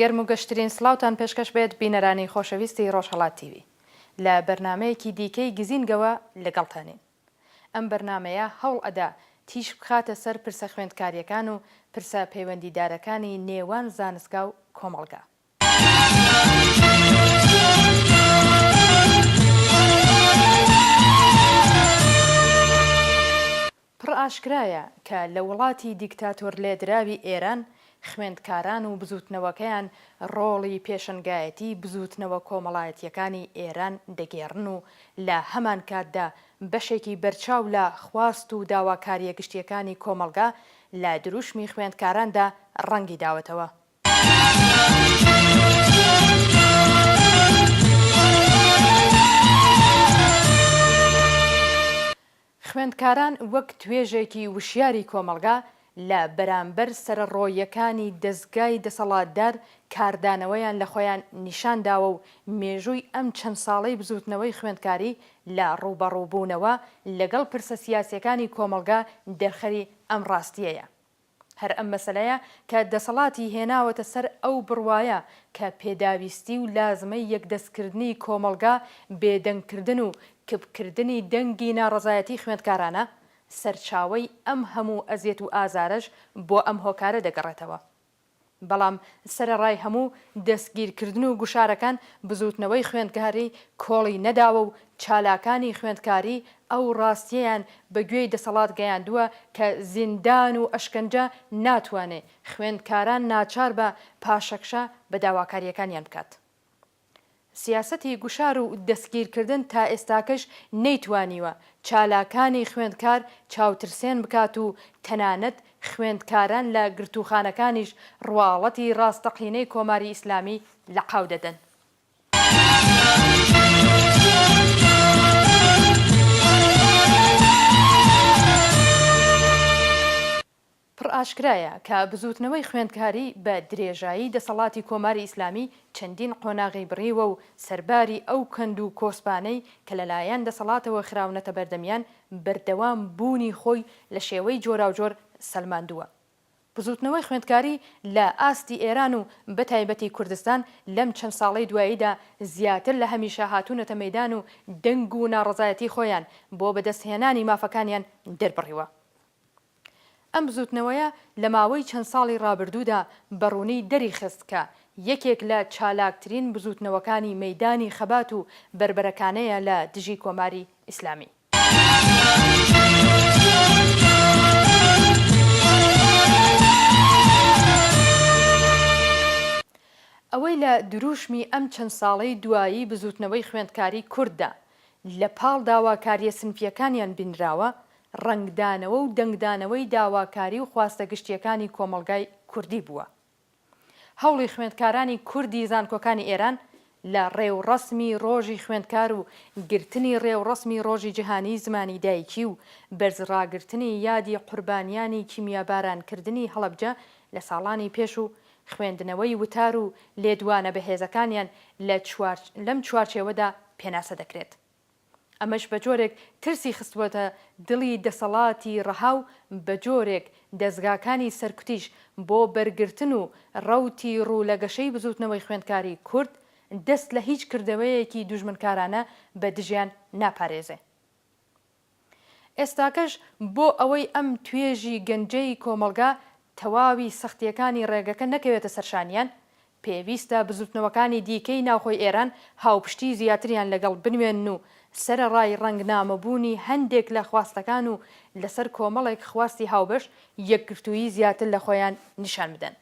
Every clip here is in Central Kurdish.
گەرم و گەشترین سڵاوتان پێشکەش بێت بینەرانی خۆشەویستی ڕۆژهەڵات تیڤی لە بەرنامەیەکی دیکەی گزینگەوە لەگەڵتانین ئەم بەرنامەیە هەوڵ ئەدا تیشک بخاتە سەر پرسە خوێندکاریەکان و پرسە پەیوەندیدارەکانی نێوان زانستگا و کۆمەڵگا پڕ ئاشکرایە کە لە وڵاتی دیکتاتۆرلێدراوی ئێران، خوێندکاران و بزووتنەوەکەیان ڕۆڵی پێشەنگایەتی بزووتنەوە کۆمەڵایەتییەکانی ئێران دەگێڕن و لە هەمانکاتدا بەشێکی بەرچاو لە خواست و داواکارییە گشتییەکانی کۆمەڵگا لە دروشمی خوێندکاراندا ڕەنگی داوەتەوە. خوێندکاران وەک توێژێکی وشیاری کۆمەڵگا لە بەرامبەر سەرەڕۆیەکانی دەزگای دەسەڵاتدار کاردانەوەیان لە خۆیان نیشانداوە و مێژووی ئەم چەند ساڵەی بزووتنەوەی خوێندکاری لە ڕووبەڕووبوونەوە لەگەڵ پرسە سیاسیەکانی کۆمەڵگا دەرخەری ئەم ڕاستیەیە. هەر ئەم مەسەلەیە کە دەسەڵاتی هێناوەتە سەر ئەو بڕوایە کە پێداویستی و لازمەی یەکدەستکردنی کۆمەڵگا بێدەنگکردن و کپکردنی دەنگی ناڕەزایەتی خوێندکارانە، سەرچاوەی ئەم هەموو ئەزیەت و ئازارەش بۆ ئەم هۆکارە دەگەڕێتەوە. بەڵام سەرەڕای هەموو دەستگیرکردن و گوشارەکان، بزووتنەوەی خوێندکاری کۆڵی نەداوە و چالاکانی خوێندکاری ئەو ڕاستییەیان بە گوێی دەسەڵات گەیاندووە کە زیندان و ئەشکەنجە ناتوانێ خوێندکاران ناچار بە پاشەکشە بە داواکارییەکانیان بکات. سیاسەتی گوشار و دەستگیرکردن تا ئێستاکەش نەیتوانیوە چالاکانی خوێندکار چاوترسێن بکات و تەنانەت خوێندکاران لە گرتووخانەکانیش ڕواڵەتی ڕاستەقینەی کۆماری ئیسلامی لەقاو دەدەن. پڕ ئاشکرایە کە بزووتنەوەی خوێندکاری بە درێژایی دەسەڵاتی کۆماری ئیسلامی چەندین قۆناغی بڕیوە و سەرباری ئەو کەند و کۆسپانەی کە لە لایەن دەسەڵاتەوە خراونەتە بەردەمیان بەردەوام بوونی خۆی لە شێوەی جۆراوجۆر سەلماندووە بزووتنەوەی خوێندکاری لە ئاستی ئێران و بە تایبەتی کوردستان لەم چەند ساڵەی دواییدا زیاتر لە هەمیشە هاتوونەتە مەیدان و دەنگ و ناڕەزایەتی خۆیان بۆ بەدەست هێنانی مافەکانیان دەربڕیوە. ئەم بزووتنەوەیە لە ماوەی چەند ساڵی ڕابردوودا بە ڕوونی دەریخست کە یەکێک لە چالاکترین بزووتنەوەکانی مەیدانی خەبات و بەربەرەکانەیە لە دژی کۆماری ئیسلامی. ئەوەی لە درووشمی ئەم چەند ساڵەی دوایی بزووتنەوەی خوێندکاری کورددا لە پاڵ داواکارییە سنفییەکانیان بینراوە، ڕەنگدانەوە و دەنگدانەوەی داواکاری و خواستە گشتییەکانی کۆمەڵگای کوردی بووە. هەوڵی خوێندکارانی کوردی زانکۆکانی ئێران لە ڕێوڕەسمی ڕۆژی خوێندکار و گرتنی ڕێوڕەسمی ڕۆژی جیهانیی زمانی دایکی و بەرزڕاگرتنی یادی قوربانیانی کیمیابارانکردنی هەڵەبجە لە ساڵانی پێش و خوێندنەوەی وتار و لێدوانە بەهێزەکانیان لە لەم چوارچێوەدا پێناسە دەکرێت. ئەمەش بە جۆرێک ترسی خستووەتە دڵی دەسەڵاتی ڕەها و بە جۆرێک دەزگاکانی سەرکوتیش بۆ بەرگرتن و ڕەوتی ڕوو لە گەشەی بزووتنەوەی خوێندکاری کورد دەست لە هیچ کردەوەیەکی دوژمنکارانە بە دژیان ناپارێزێ. ئێستاکەش بۆ ئەوەی ئەم توێژی گەنجەی کۆمەڵگا تەواوی سەختییەکانی ڕێگەکە نەکەوێتە سەرشانیان، پێویستە بزووتنەوەکانی دیکەی ناوخۆی ئێران هاوپشتی زیاتریان لەگەڵ بنوێنن و سەرەڕای ڕەنگنامەبوونی هەندێک لە خواستەکان و لەسەر کۆمەڵێک خواستی هاوبەش، یەکگرتوویی زیاتر لە خۆیان نیشان بدەن.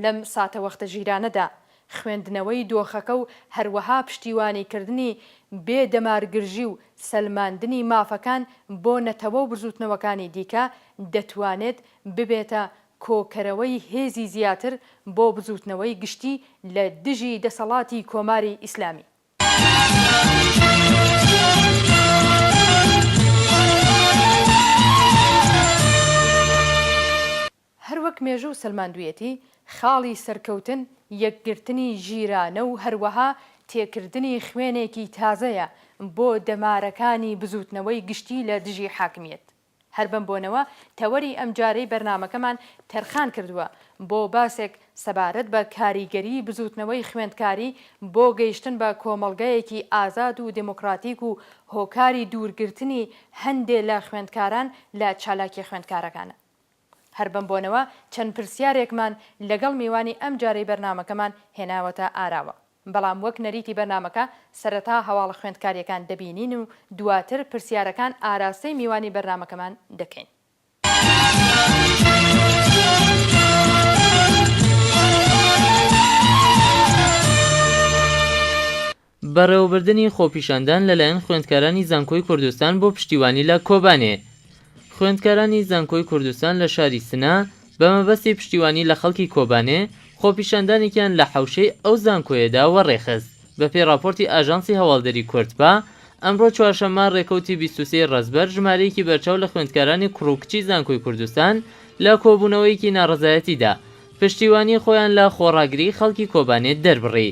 لەم ساتەوەختە ژیرانەدا، خوێندنەوەی دۆخەکە و هەروەها پشتیوانیکردنی بێ دەمارگرژی و سەلماندنی مافەکان بۆ نەتەوە و بزووتنەوەکانی دیکە، دەتوانێت ببێتە کۆکەرەوەی هێزی زیاتر بۆ بزووتنەوەی گشتی لە دژی دەسەڵاتی کۆماری ئیسلامی. هەر وەک مێژوو سەلماندویەتی خاڵی سەرکەوتن یەکگرتنی ژیرانە و هەروەها تێکردنی خوێنێکی تازەیە بۆ دەمارەکانی بزوتنەوەی گشتی لە دژی حاکمیەت. هەر بەم بۆنەوە تەوەری ئەمجارەی بەرنامەکەمان تەرخان کردوە بۆ باسێک سەبارەت بە کاریگەری بزوتنەوەی خوێندکاری بۆ گەیشتن بە کۆمەڵگەیەکی ئازاد و دێمۆکڕاتیک و هۆکاری دوورگرتنی هەندێ لە خوێندکاران لە چالاکیە خوێندکارەکانە هەر بەم بۆنەوە چەند پرسیارێکمان لەگەڵ میوانی ئەم جارەی بەرنامەکەمان هێناوەتە ئاراوە بەڵام وەک نەریتی بەرنامەکە سەرەتا هەواڵە خوێندکاریەکان دەبینین و دواتر پرسیارەکان ئاراستەی میوانی بەرنامەکەمان دەکەین. بەڕێوەبردنی خۆپیشاندان لەلایەن خوێندکارانی زانکۆی کوردستان بۆ پشتیوانی لە کۆبانێ خوێندکارانی زانکۆی کوردستان لە شاری سنە بە مەبەستی پشتیوانی لە خەڵکی کۆبانێ خۆپیشاندانێکیان لە حەوشەی ئەو زانکۆیەدا وەڕێخست بەپێی ڕاپۆرتی ئاژانسی هەواڵدەری کوردپا، ئەمڕۆ چوارشەممە ڕێکەوتی بیست و سێ ڕەزبەر ژمارەیەکی بەرچاو لە خوێندکارانی کوڕ و کچی زانکۆی کوردستان لە کۆبوونەوەیەکی ناڕەزایەتیدا پشتیوانی خۆیان لە خۆڕاگری خەڵکی کۆبانێ دەربڕی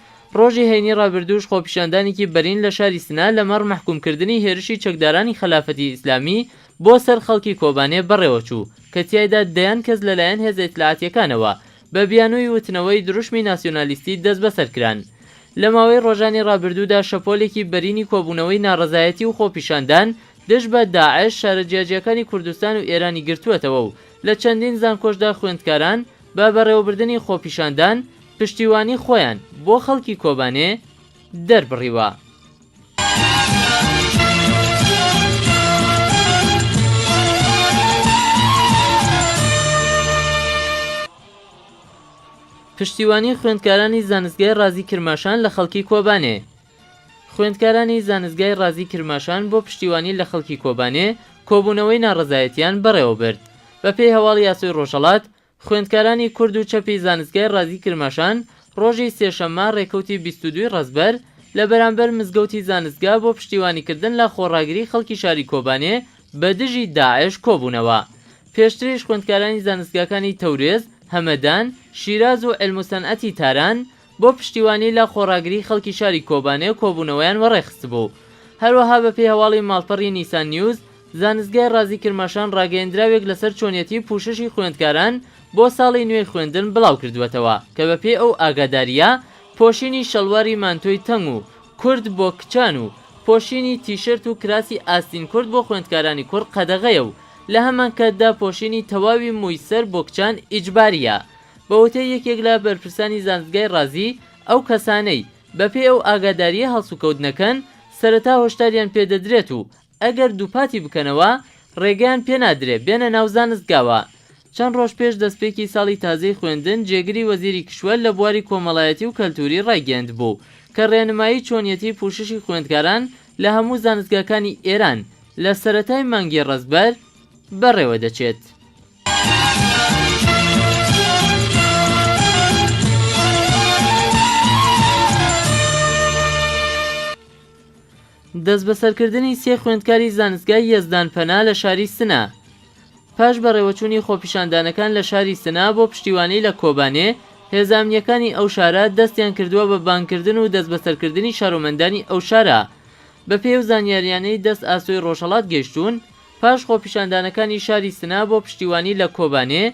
ڕۆژی هەینی ڕابردووش خۆپیشاندانێکی بەرین لە شاری سنە لەمەڕ مەحکوومکردنی هێرشی چەکدارانی خەلافەتی ئیسلامی بۆ سەر خەڵکی کۆبانێ بەڕێوەچوو کە تیایدا دەیان کەس لەلایەن هێزە ئیتلاعاتییەکانەوە بە بیانووی وتنەوەی دروشمی ناسیۆنالیستی دەستبەسەر کران. لە ماوەی ڕۆژانی ڕابردوودا شەپۆلێکی بەرینی کۆبوونەوەی ناڕەزایەتی و خۆپیشاندان دژ بە داعش شارە جیاجیاکانی کوردستان و ئێرانی گرتووەتەوە و لە چەندین زانکۆشدا خوێندکاران بە بەڕێوەبردنی خۆپیشاندان پشتیوانی خۆیان بۆ خەڵکی کۆبانێ دەربڕیوە. پشتیوانی خوێندکارانی زانستگای ڕازی کرماشان لە خەڵکی کۆبانێ خوێندکارانی زانستگای ڕازی کرماشان بۆ پشتیوانی لە خەڵکی کۆبانێ کۆبوونەوەی ناڕەزایەتیان بەڕێوەبرد بەپێی هەواڵی ئاسۆی ڕۆژهەڵات، خوێندکارانی کورد و چەپی زانستگای ڕازی کرماشان ڕۆژی سێشەممە ڕێکەوتی بیست و دووی ڕەزبەر لە بەرامبەر مزگەوتی زانستگا بۆ پشتیوانیکردن لە خۆڕاگری خەڵکی شاری کۆبانێ بە دژی داعش کۆبوونەوە. پێشتریش خوێندکارانی زانستگاکانی تەورێز، هەمەدان، شیراز و عیلموسەنعەتی تاران بۆ پشتیوانی لە خۆڕاگری خەڵکی شاری کۆبانێ کۆبوونەوەیان وەڕێخستبوو و هەروەها بەپێی هەواڵی ماڵپەڕی نیسان نیوز زانستگای ڕازی کرماشان ڕاگەیەندراوێک لەسەر چۆنیەتی پوششی خوێندکاران بۆ ساڵی نوێی خوێندن بڵاوکردووەتەوە کە بەپێی ئەو ئاگادارییە پۆشینی شەڵواری مانتۆی تەنگ و کورت بۆ کچان و پۆشینی تیشرت و کراسی ئاستین کورت بۆ خوێندکارانی کوڕ قەدەغەیە و لەهەمانکاتدا پۆشینی تەواوی مووی سەر بۆ کچان ئیجبارییە. بە وتەی یەکێک لە بەرپرسانی زانستگای ڕازی، ئەو کەسانەی بەپێی ئەو ئاگادارییە هەڵسوکەوت نەکەن، سەرەتا هۆشداریان پێ دەدرێت و ئەگەر دووپاتی بکەنەوە، ڕێگەیان پێ نادرێ بێنە ناو زانستگاوە. چەند ڕۆژ پێش دەستپێکی ساڵی تازەی خوێندن، جێگری وەزیری کیشوەر لە بواری کۆمەڵایەتی و کەلتووری ڕایگەیاندبوو کە ڕێنمایی چۆنیەتی پووششی خوێندکاران لە هەموو زانستگاکانی ئێران لە سەرەتای مانگی ڕەزبەر بەڕێوە دەچێت. دەستبەسەرکردنی سێ خوێندکاری زانستگای یەزدان پەنا لە شاری سنە پاش بەڕێوەچوونی خۆپیشاندانەکان لە شاری سنە بۆ پشتیوانی لە کۆبانێ هێزە ئەمنیەکانی ئەو شارە دەستیان کردووە بە بانگکردن و دەستبەسەرکردنی شارۆمەندانی ئەو شارە بەپێی ئەو زانیاریانەی دەست ئاسۆی ڕۆژهەڵات گەیشتوون پاش خۆپیشاندانەکانی شاری سنە بۆ پشتیوانی لە کۆبانێ،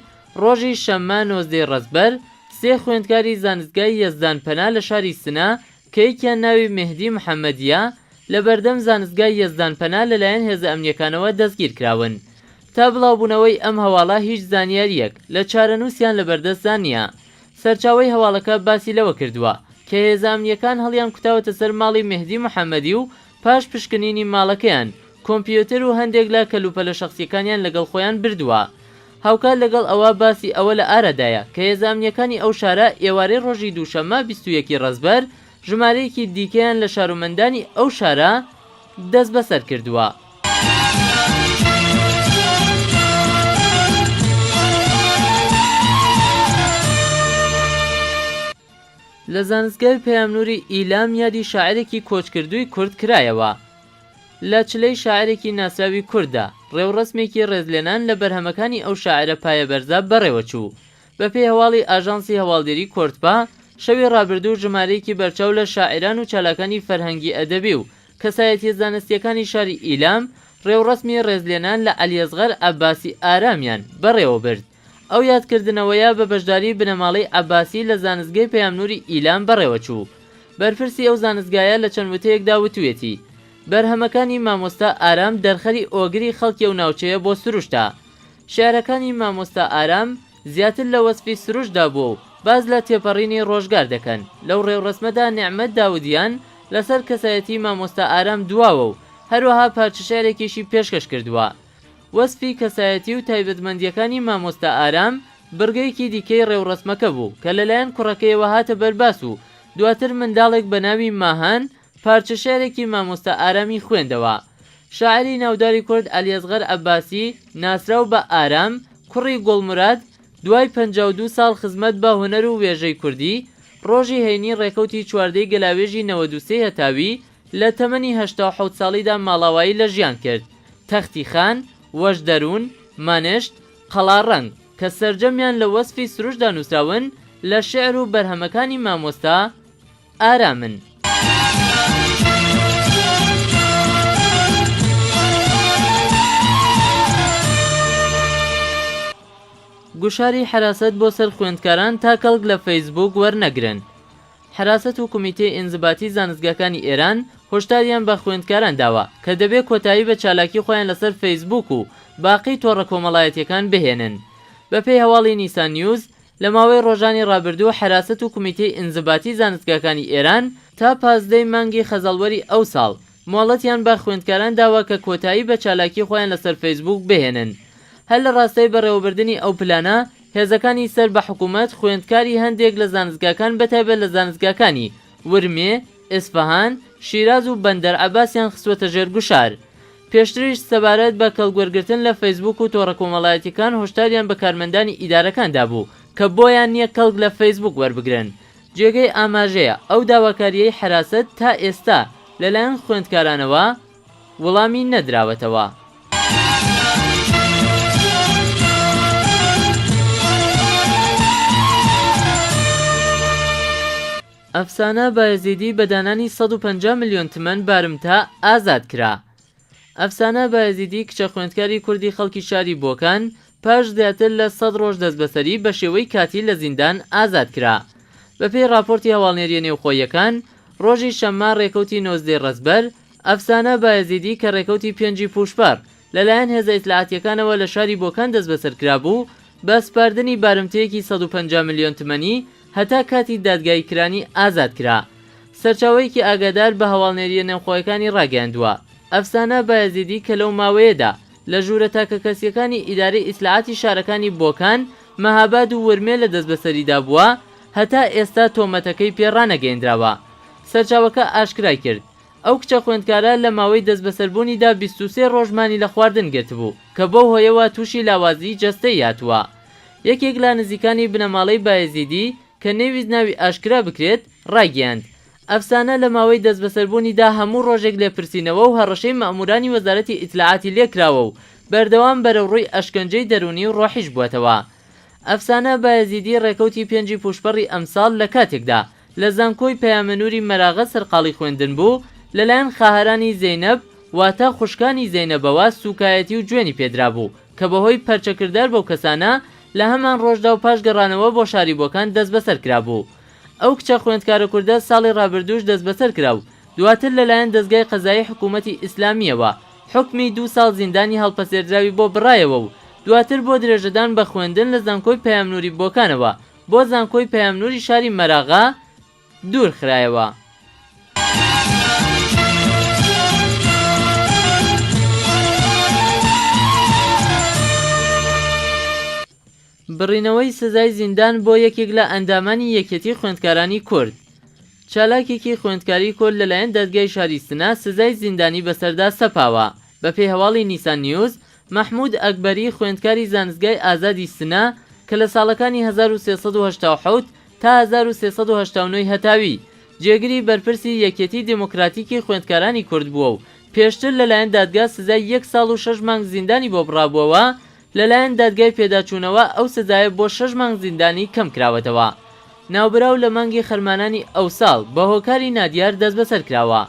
ڕۆژی شەممە نۆزدەی ڕەزبەر، سێ خوێندکاری زانستگای یەزدان پەنا لە شاری سنە کە یەکیان ناوی مێهدی محەممەدییە، لە بەردەم زانستگای یەزدان پەنا لەلایەن هێزە ئەمنییەکانەوە دەستگیر کراون. تا بڵاوبوونەوەی ئەم هەواڵە هیچ زانیارییەک لە چارەنووسیان لە بەردەستدا نییە. سەرچاوەی هەواڵەکە باسی لەوە کردووە کە هێزە ئەمنییەکان هەڵیان کوتاوەتە سەر ماڵی مێهدی محەممەدی و پاش پشکنینی ماڵەکەیان، کۆمپیۆتەر و هەندێک لە کەلوپەلە شەخسیەکانیان لەگەڵ خۆیان بردووە. هاوکات لەگەڵ ئەوە باسی ئەوە لە ئارادایە کە هێزە ئەمنیەکانی ئەو شارە ئێوارەی ڕۆژی دووشەممە بیست و یەک ی ڕەزبەر ژمارەیەکی دیکەیان لە شارومەندانی ئەو شارە دەستبەسەر کردووە. لە زانستگای پەیامنووری ئیلام یادی شاعیرێکی کۆچکردووی کورد کرایەوە. لە چلەی شاعیرێکی ناسراوی کورددا، ڕێوڕەسمێکی ڕێزلێنان لە بەرهەمەکانی ئەو شاعیرە پایەبەرزە بەڕێوەچوو. بەپێی هەواڵی ئاژانسی هەواڵدێری کوردپا، شەوی ڕابردوو ژمارەیەکی بەرچاو لە شاعیران و چالاکانی فەرهەنگی-ئەدەبی و کەسایەتییە زانستییەکانی شاری ئیلام، ڕێوڕەسمی ڕێزلێنان لە عەلیەسغەر عەباسی ئارامیان بەڕێوەبرد. ئەو یادکردنەوەیە بە بەشداریی بنەماڵەی عەباسی لە زانستگەی پەیامنووری ئیلام بەڕێوەچوو. بەرپرسی ئەو زانستگایە لە چەند وتەیەکدا وتوویەتی، بەرهەمەکانی مامۆستا ئارام دەرخەری ئۆگری خەڵکی ئەو ناوچەیە بۆ سروشتە. شیعرەکانی مامۆستا ئارام زیاتر لە وەسفی سروشتدا بووە و باس لە تێپەڕینی ڕۆژگار دەکەن. لەو ڕێوڕەسمەدا نێعمەت داودیان لەسەر کەسایەتیی مامۆستا ئارام دواوە و هەروەها پارچەشیعرێکیشی پێشکەش کردووە. وەسفی کەسایەتی و تایبەتمەندییەکانی مامۆستا ئارام بڕگەیەکی دیکەی ڕێوڕەسمەکە بوو کە لەلایەن کوڕەکەیەوە هاتە بەرباس و دواتر منداڵێک بە ناوی ماهان پارچە شێعرێکی مامۆستا ئارامی خوێندەوە شاعیری ناوداری کورد عەلی ئەسغەر عەباسی ناسراو بە ئارام کوڕی گوڵموراد دوای پەنجا و دوو ساڵ خزمەت بە هونەر و وێژەی کوردی ڕۆژی هەینی ڕێکەوتی چواردەی گەلاوێژی نەوەد و سێی هەتاوی لە تەمەنی هەشتا و حەوت ساڵیدا ماڵاوایی لە ژیان کرد، تەختی خان، وەژ دەروون، مەنشت، قەڵا ڕەنگ، کە سەرجەمیان لە وەسفی سروشدا نووسراون، لە شیعر و بەرهەمەکانی مامۆستا ئارامن. گوشاری حەراسەت بۆ سەر خوێندکاران تا کەڵک لە فەیسبووک وەرنەگرن. حەراست و کومیتەی ئینزباتی زانستگاکانی ئێران هۆشداریان بە خوێندکاران داوە کە دەبێ کۆتایی بە چالاکی خۆیان لەسەر فەیسبووک و باقی تۆڕە کۆمەڵایەتیەکان بهێنن. بەپێی هەواڵی نیسان نیوز، لە ماوەی ڕۆژانی ڕابردوو حەراست و کومیتەی ئینزباتی زانستگاکانی ئێران تا پازدەی مانگی خەزەڵوەری ئەوساڵ مۆڵەتیان بە خوێندکاران داوە کە کۆتایی بە چالاکی خۆیان لەسەر فەیسبووک بهێنن. هەر لە ڕاستای بەڕێوەبردنی ئەو پلانە، هێزەکانی سەر بە حکوومەت خوێندکاری هەندێک لە زانستگاکان بەتایبەت لە زانستگاکانی، ورمێ، ئێسفەهان، شیراز و بەندەر عەباسیان خستووەتە ژێر گوشار. پێشتریش سەبارەت بە کەڵکوەرگرتن لە فەیسبووک و تۆڕە کۆمەڵایەتییەکان هۆشداریان بە کارمەندانی ئیدارەکان دابوو کە بۆیان نییە کەڵک لە فەیسبووک وەربگرن جێگەی ئاماژەیە ئەو داواکارییەی حەراسەت تا ئێستا لەلایەن خوێندکارانەوە وڵامی نەدراوەتەوە. ئەفسانە بایەزیدی بە دانانی سەد و پەنجا ملیۆن تمەن بارمتە ئازاد کرا. ئەفسانە بایەزیدی کچە خوێندکاری کوردی خەڵکی شاری بۆکان پاش زیاتر لە سەد ڕۆژ دەستبەسەری بە شێوەی کاتی لە زیندان ئازاد کرا. بەپێی ڕاپۆرتی هەواڵنێرییە نێوخۆییەکان، ڕۆژی شەممە ڕێکەوتی نۆزدەی ڕەزبەر، ئەفسانە بایەزیدی کە ڕێکەوتی پێنجی پووشپەڕ لەلایەن هێزە ئیتلاعاتییەکانەوە لە شاری بۆکان دەستبەسەر کرابوو، بە سپاردنی بارمتەیەکی سەد و پەنجا ملیۆن تمەنی، هەتا کاتی دادگایی کرانی ئازاد کرا. سەرچاوەیەکی ئاگادار بە هەواڵنێرییە نێوخۆیەکانی ڕاگەیاندووە، ئەفسانە بایەزیدی کە لەو ماوەیەدا لە ژوورە تاکەکەسییەکانی ئیدارەی ئیتلاعاتی شارەکانی بۆکان، مەهاباد و ورمێ لە دەستبەسەریدا بووە، هەتا ئێستا تۆمەتەکەی پێ ڕانەگەیێندراوە. سەرچاوەکە ئاشکرای کرد، ئەو کچە خوێندکارە لە ماوەی دەستبەسەربوونیدا بیست و سێ ڕۆژ مانی لە خواردن گرتبوو، کە بەو هۆیەوە تووشی لاوازیی جەستەیی هاتووە. یەکێک لە نزیکانی بنەماڵەی بایەزیدی، کە نەیویست ناوی ئاشکرا بکرێت، ڕایگەیاند، ئەفسانە لە ماوەی دەستبەسەربوونیدا هەموو ڕۆژێک لێپرسینەوە و هەڕەشەی مەئموورانی وەزارەتی ئیتلاعاتی لێ کراوە و بەردەوام بەرەوڕووی ئەشکەنجەی دەروونی و ڕۆحیش بووەتەوە. ئەفسانە بایەزیدی ڕێکەوتی پێنجی پووشپەڕی ئەمساڵ لە کاتێکدا لە زانکۆی پەیامنوری مەراغە سەرقاڵی خوێندن بوو، لەلایەن خاهەرانی زەینەب واتە خوشکانی زەینەبەوە سوکایەتی و جوێنی پێدرابوو، کە بەهۆی پەرچەکردار بەو کەسانە لە هەمان ڕۆژدا و پاش گەڕانەوە بۆ شاری بۆکان دەستبەسەر کرابوو. ئەو کچە خوێندکارە کوردە ساڵی ڕابردووش دەستبەسەر کرا و دواتر لەلایەن دەزگای قەزایی حکوومەتی ئیسلامییەوە حوکمی دوو ساڵ زیندانی هەڵپەسێردراوی بۆ بڕایەوە و دواتر بۆ درێژەدان بە خوێندن لە زانکۆی پەیامنوری بۆکانەوە بۆ زانکۆی پەیامنوری شاری مەراغە دوور خرایەوە. بڕینەوەی سزای زیندان بۆ یەکێک لە ئەندامانی یەکێتی خوێندکارانی کورد چالاکێکی خوێندکاری کورد لەلایەن دادگای شاری سنە سزای زیندانی بەسەردا سەپاوە بەپێی هەواڵی نیسان نیوز مەحمود ئەکبەری خوێندکاری زانستگای ئازادی سنە کە لە ساڵەکانی هەزار و سێ سەد و هەشتا و حەوت تا هەزار و سێ سەد و هەشتا و نۆ ی هەتاوی جێگری بەرپرسی یەکیەتی دێمۆکڕاتیکی خوێندکارانی کورد بووە و پێشتر لەلایەن دادگا سزای یەک ساڵ و شەش مانگ زیندانی بۆ بڕابووەوە لەلایەن دادگای پێداچوونەوە ئەو سزایە بۆ شەش مانگ زیندانی کەم کراوەتەوە. ناوبراو لە مانگی خەرمانانی ئەوساڵ بە هۆکاری نادیار دەستبەسەر کراوە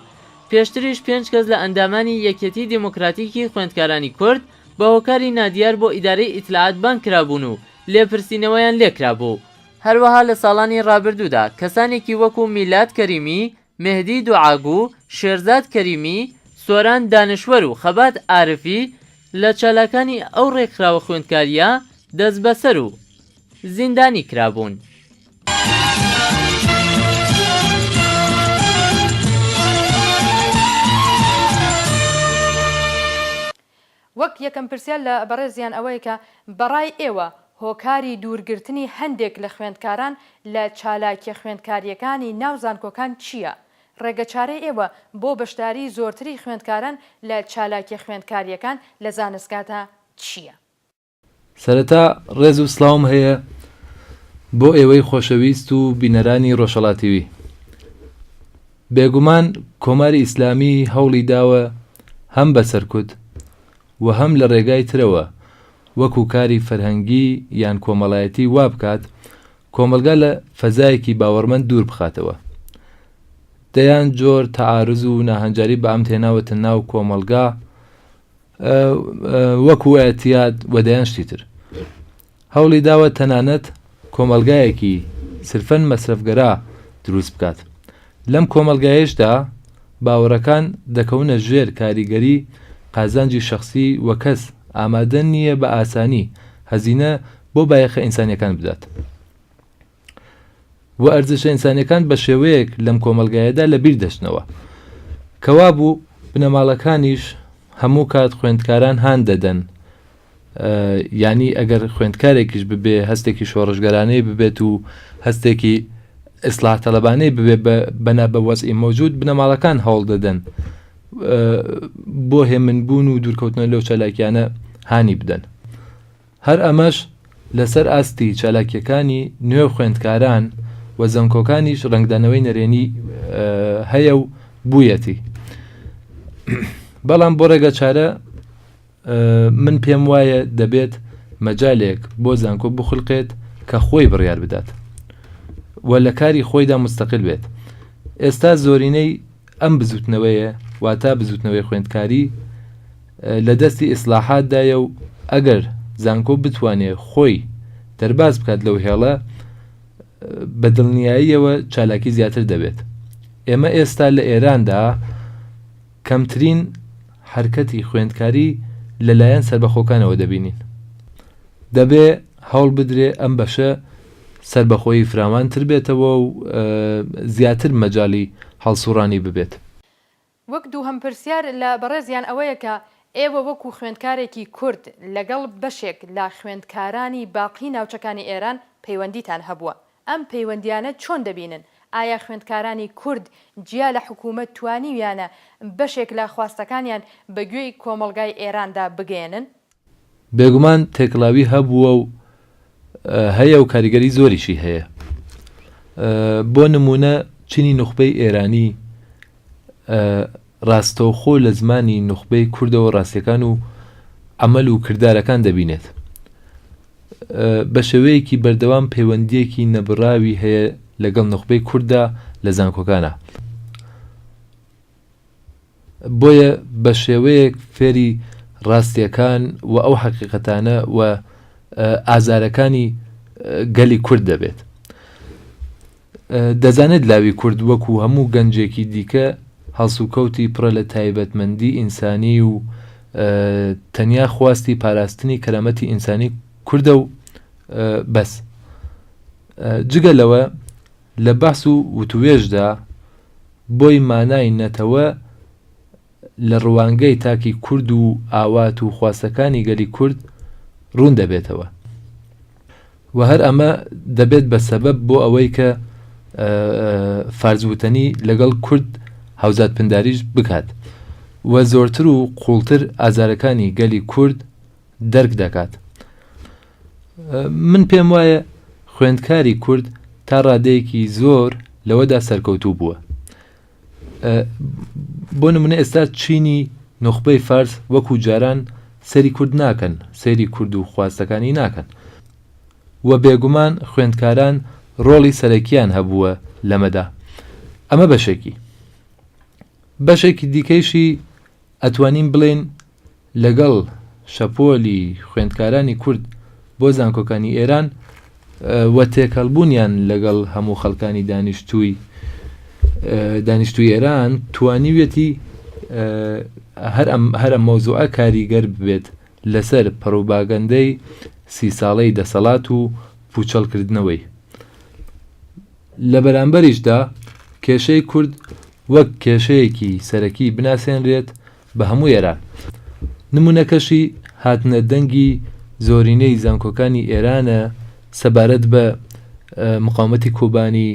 پێشتریش پێنج کەس لە ئەندامانی یەکیەتیی دێمۆکراتیکی خوێندکارانی کورد بە هۆکاری نادیار بۆ ئیدارەی ئیتلاعات بانگ کرابوون و لێپرسینەوەیان لێ کرابوو. هەروەها لە ساڵانی ڕابردوودا کەسانێکی وەکوو میلاد کەریمی، مێهدی دوعاگوو، شێرزاد کەریمی، سۆران دانشوەر و خەبات عارفی لە چالاکانی ئەو ڕێکخراوە خوێندکارییە دەسبەسەر و زیندانی کرابوون. وەک یەکەم پرسیار لە بەڕێزیان ئەوەیە کە بەڕای ئێوە هۆکاری دوورگرتنی هەندێک لە خوێندکاران لە چالاکیە خوێندکاریەکانی ناو زانکۆکان چیە؟ ڕێگەچارەی ئێوە بۆ بەشداری زۆرتری خوێندکاران لە چالاکیە خوێندکاریەکان لە زانستگاتا چیە؟ سەرەتا ڕێز و سڵاوم هەیە بۆ ئێوەی خۆشەویست و بینەرانی ڕۆژەڵاتیوی بێگومان کۆماری ئیسلامی هەوڵی داوە هەم بە سەرکوت و هەم لە ڕێگای ترەوە وەکو کاری فەرهەنگی یان کۆمەڵایەتی وا بکات کۆمەلگا لە فەزایەکی باوەڕمەند دوور بخاتەوە دەیان جۆر تەعارز و ناهەنجاری بە ئەمد هێناوەتە ناو کۆمەڵگا وەکو ئەتیاد و دەیان شتی تر هەوڵی داوە تەنانەت کۆمەلگایەکی سرفەن مەسرفگەرا دروست بکات لەم کۆمەلگایشدا باوەڕەکان دەکەونە ژێر کاریگەری قازانجی شەخسی و کەس ئامادە نییە بە ئاسانی هەزینە بۆ بایەخە ئینسانیەکان بدات. و ئەرزشە ئینسانیەکان بە شێوەیەک لەم کۆمەلگایەدا لە بیر دەچنەوە کەوابوو بنەماڵەکانیش هەموو کات خوێندکاران هان دەدەن ینی ئەگەر خوێندکارێکیش ببێ هەستێکی شۆڕشگەرانەی ببێت و هەستێکی ئیسلاح تەلبانەی ببێ بەنا بە وەزئی مەوجود بنەماڵەکان هەوڵ دەدەن بۆ هێمنبوون و دوورکەوتنە لەو چالاکیانە هانی بدەن هەر ئەمەش لەسەر ئاستی چالاکییەکانی نوێ خوێندکاران و زانکۆکانیش ڕەنگدانەوەی نەرێنی هەیە و بوویەتی بەڵام بۆ ڕێگە چارە من پێم وایە دەبێت مەجالێک بۆ زانکۆ بخلقێت کە خۆی بڕیار بدات و لە کاری خۆیدا مستەقل بێت ئێستا زۆرینەی ئەم بزوتنەوەیە واتە بزوتنەوەی خوێندکاری لە دەستی ئیسلاحات دایە و ئەگەر زانکۆ بتوانێ خۆی دەرباز بکات لەو هێڵە بە دڵنیاییەوە چالاکی زیاتر دەبێت ئێمە ئێستا لە ئێراندا کەمترین حرکەتی خوێندکاری لەلایەن سەربەخۆکانەوە دەبینین دەبێ هەوڵ بدرێ ئەم بەشە سەربەخۆیی فراوانتر بێتەوە و زیاتر مەجالی هەڵسوڕانی ببێت. وەک دووهەم پرسیار لە بەڕێزیان ئەوەیە کە ئێوە وەکو خوێندکارێکی کورد لەگەڵ بەشێک لە خوێندکارانی باقی ناوچەکانی ئێران پەیوەندیتان هەبووە ئەم پەیوەندیانە چۆن دەبینن؟ ئایا خوێندکارانی کورد جیا لە حکوومەت توانیویانە بەشێک لە خواستەکانیان بە گوێی کۆمەڵگای ئێراندا بگەیەنن؟ بێگومان تێکڵاوی هەبووە و هەیە و کاریگەری زۆریشی هەیە. بۆ نموونە چینی نوخبەی ئێرانی ڕاستەوخۆ لە زمانی نوخبەی کوردەوە ڕاستیەکان و عەمەل و کردارەکان دەبینێت. بە شێوەیەکی بەردەوام پەیوەندیەکی نەبڕاوی هەیە لەگەڵ نوخبەی کورددا لە زانکۆکانا. بۆیە بە شێوەیەک فێری ڕاستیەکان و ئەو حەقیقەتانە و ئازارەکانی گەلی کورد دەبێت. دەزانێت لاوی کورد وەکو هەموو گەنجێکی دیکە هەڵسوکەوتی پڕە لە تایبەتمەندی ئینسانی و تەنیا خواستی پاراستنی کەرامەتی ئینسانی کوردە و بەس جگە لەوە لە بەحس و وتووێژدا بۆی مانای نەتەوە لە روانگەی تاکی کورد و ئاوات و خواستەکانی گەلی کورد روون دەبێتەوە و هەر ئەمە دەبێت بە سەبەب بۆ ئەوەی کە فارس وتەنی لەگەڵ کورد هاوزات پنداریش بکات و زۆرتر و قووڵتر ئازارەکانی گەلی کورد دەرک دەکات. من پێم وایە خوێندکاری کورد تا ڕادەیەکی زۆر لەوەدا سەرکەوتوو بووە. بۆ نمونە ئێستا چینی نوخبەی فارس وەکو جاران سەری کورد ناکەن سەیری کورد و خواستەکانی ناکەن و بێگومان خوێندکاران ڕۆڵی سەرەکیان هەبووە لەمەدا ئەمە بەشێکی بەشێکی دیکەیشی ئەتوانین بڵێن لەگەڵ شەپۆلی خوێندکارانی کورد بۆ زانکۆکانی ئێران و تێکەڵبوونیان لەگەڵ هەموو خەڵکانی دانیشتووی دانیشتوی ئێران توانیویەتی هەر ئەم هەرە مەوزوعە کاریگەر بێت لەسەر پڕوباگەندەی سی ساڵەی دەسەڵات و پوچەڵکردنەوەی لە بەرامبەریشدا کێشەی کورد وەک کێشەیەکی سەرەکی بناسێنرێت بە هەموو ئێران. نموونەکەشی هاتنە دەنگی زۆرینەی زانکۆکانی ئێرانە سەبارەت بە مقاومەتی کۆبانی،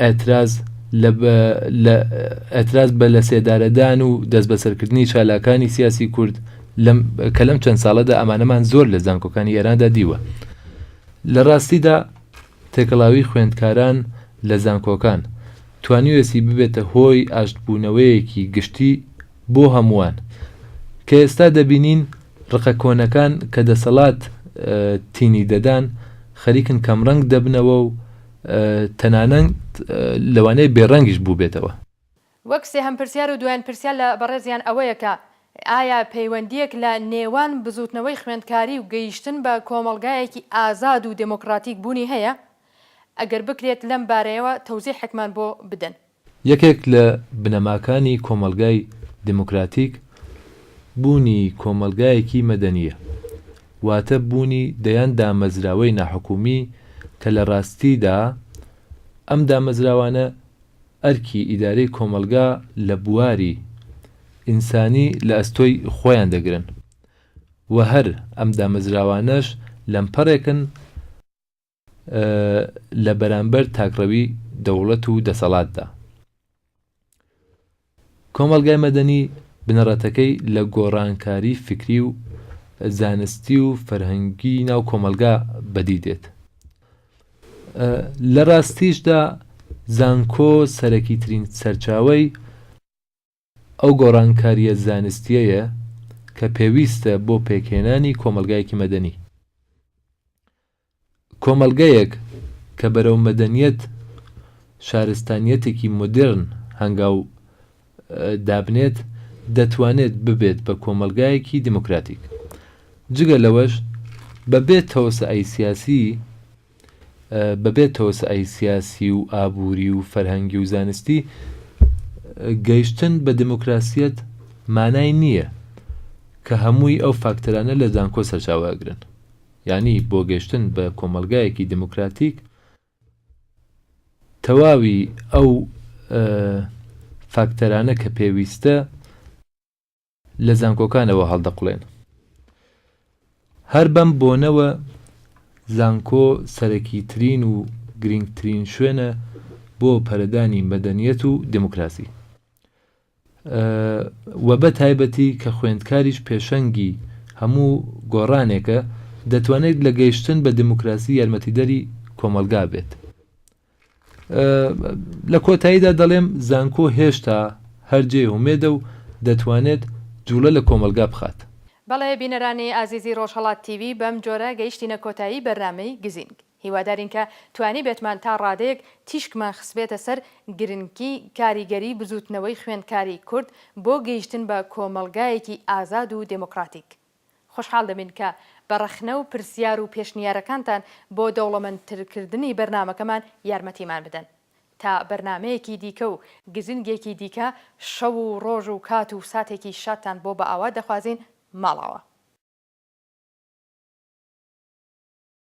ئێتراز ئێتراز بە لەسێدارەدان و دەستبەسەرکردنی چالاکانی سیاسی کورد لەم کە لەم چەند ساڵەدا ئەمانەمان زۆر لە زانکۆکانی ئێراندا دیوە. لە ڕاستیدا، تێکەڵاویی خوێندکاران لە زانکۆکان، توانیوێسی ببێتە هۆی ئاشتبوونەوەیەکی گشتی بۆ هەمووان، کە ئێستا دەبینین ڕقە کۆنەکان کە دەسەڵات تینی دەدان، خەریکن کەمڕەنگ دەبنەوە و تەنانەت لەوانەیە بێڕەنگیش بووبێتەوە. وەک سێهەم پرسیار و دوایین پرسیار لە بەڕێزیان ئەوەیە کە ئایا پەیوەندییەک لە نێوان بزووتنەوەی خوێندکاری و گەیشتن بە کۆمەڵگایەکی ئازاد و دێمۆکڕاتیک بوونی هەیە؟ ئەگەر بکرێت لەم بارەیەوە تەوزیحێکمان بۆ بدەن. یەکێک لە بنەماکانی کۆمەڵگای دێمۆکڕاتیک بوونی کۆمەڵگایەکی مەدەنییە، واتە بوونی دەیان دامەزراوەی ناحکوومی کە لە ڕاستیدا ئەم دامەزراوانە، ئەرکی ئیدارەی کۆمەڵگا لە بواری ئینسانی لە ئەستۆی خۆیان دەگرن و هەر ئەم دامەزراوانەش لەمپەڕێکن لە بەرامبەر تاکڕەوی دەوڵەت و دەسەڵاتدا. کۆمەڵگای مەدەنی بنەڕەتەکەی لە گۆڕانکاری فیکری و زانستی و فەرهەنگی ناو کۆمەڵگا بەدی دێت. لە ڕاستیشدا زانکۆ سەرەکیترین سەرچاوەی ئەو گۆڕانکارییە زانستییەیە کە پێویستە بۆ پێکهێنانی کۆمەڵگایەکی مەدەنی. کۆمەڵگەیەک کە بەرەو مەدەنییەت، شارستانییەتێکی مۆدێرن هەنگاو دابنێت، دەتوانێت ببێت بە کۆمەڵگایەکی دیموکراتیک. جگە لەوەش بە بێ تەوسەئای سیاسی، بە بێ تەوسەئای سیاسی و ئابووری و فەرهەنگی و زانستی، گەیشتن بە دیموکراسیەت مانای نییە، کە هەمووی ئەو فاکتەرانە لە زانکۆ سەرچاوە ئەگرن. یانی بۆ گەیشتن بە کۆمەڵگایەکی دیموکراتیک، تەواوی ئەو فاکتەرانە کە پێویستە لە زانکۆکانەوە هەڵدەقڵێن. هەر بەم بۆنەوە زانکۆ سەرەکیترین و گرینگترین شوێنە بۆ پەرەدانی مەدەنیەت و دێموکراسی. وە بە تایبەتی کە خوێندکاریش پێشەنگی هەموو گۆڕانێکە دەتوانێت لە گەیشتن بە دیموکراسی یارمەتیدەری کۆمەڵگا بێت. لە کۆتاییدا دەڵێم زانکۆ هێشتا هەر جێی ئومێدە و دەتوانێت جوڵە لە کۆمەڵگا بخات. بەڵێ بینەرانی ئازیزی ڕۆژهەڵات تیڤی بەم جۆرە گەیشتینە کۆتایی بەرنامەی گزینگ. هیوادارین کە توانیبێتمان تا ڕادەیەک تیشکمان خستبێتە سەر گرنگی کاریگەری بزووتنەوەی خوێندکاری کورد بۆ گەیشتن بە کۆمەڵگایەکی ئازاد و دێمۆکڕاتیک. خۆشحاڵ دەبین کە بە ڕەخنە و پرسیار و پێشنیارەکانتان بۆ دەوڵەمەندترکردنی بەرنامەکەمان یارمەتیمان بدەن. تا بەرنامەیەکی دیکە و گزنگێکی دیکە شەو و ڕۆژ و کات و ساتێکی شادتان بۆ بەئاوات دەخوازین ماڵاوا.